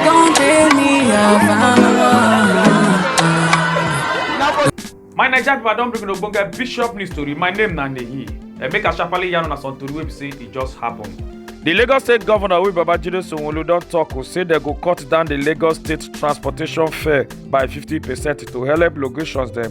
Don't tell me I'm My Naija people, I don bring una ogbonge bishop news story. My name na Nehi. Uh, make I sharply yarn una some tori wey be say e just happen. The Lagos State Governor wey Babajide Sanwo-Olu don talk o say dem go cut down the Lagos State transportation fare by 50 percent to help locations dem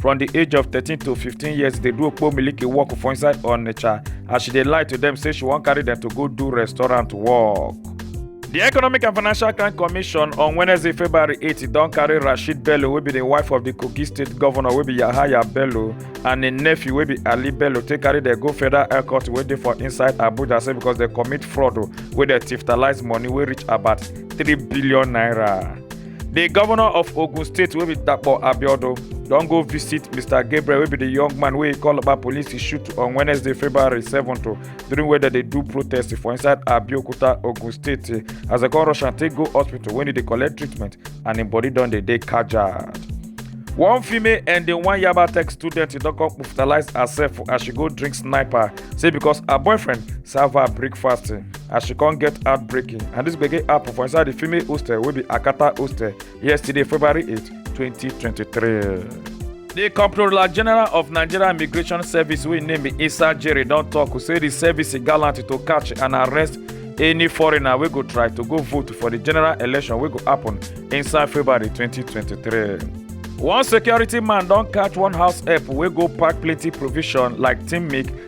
from di age of thirteen to fifteen years dey do okpo miliki work for inside onitsha as she dey lie to dem say she wan carry dem to go do restaurant work. di economic and financial crime commission on wednesday february 8 don carry rashid bello wey be di wife of di kogi state governor wey be yahaya bello and im nephew wey be ali bello take carry dem go federal air court wey dey for inside abuja say because dem commit fraud wey dem tiftalise money wey reach about 3 billion naira. di govnor of ogun state wey be dapo abiodun don go visit mr gabriel wey be di young man wey call coloba police shoot on wednesday february 7 during wey dem dey do protest for inside abeokuta ogun state as dem come rush am take go hospital wen e dey collect treatment and im body don dey dey kajad. one female and di one yaba tech student don come hospitalize herself as she go drink sniper say because her boyfriend serve her breakfast. as she come get heartbreaking and this gbege happen for inside the female hostel wey be akata hostel yesterday february 8 2023. The Comptroller General of Nigeria Immigration Service, we name it Issa Jerry, don't talk, say the service is gallant to catch and arrest any foreigner wey go try to go vote for the general election wey go happen inside February 2023. One security man don catch one house help wey go pack plenty provision like team milk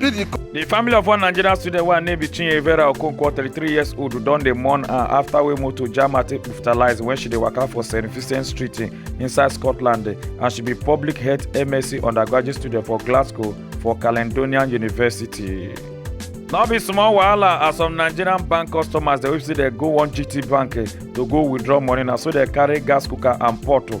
The family of one Nigerian student wey her name be Chinye Vera Okonkwo, 33 years old, don dey mourn her after wey motor jam her take hospitalize when she dey waka for St. Vincent Street eh, inside Scotland eh, and she be public health MSc undergraduate student for Glasgow for Caledonian University. No be small wahala as some Nigerian bank customers dey wey be say dey go one GT bank eh, to go withdraw money na so dey carry gas cooker and pot oh,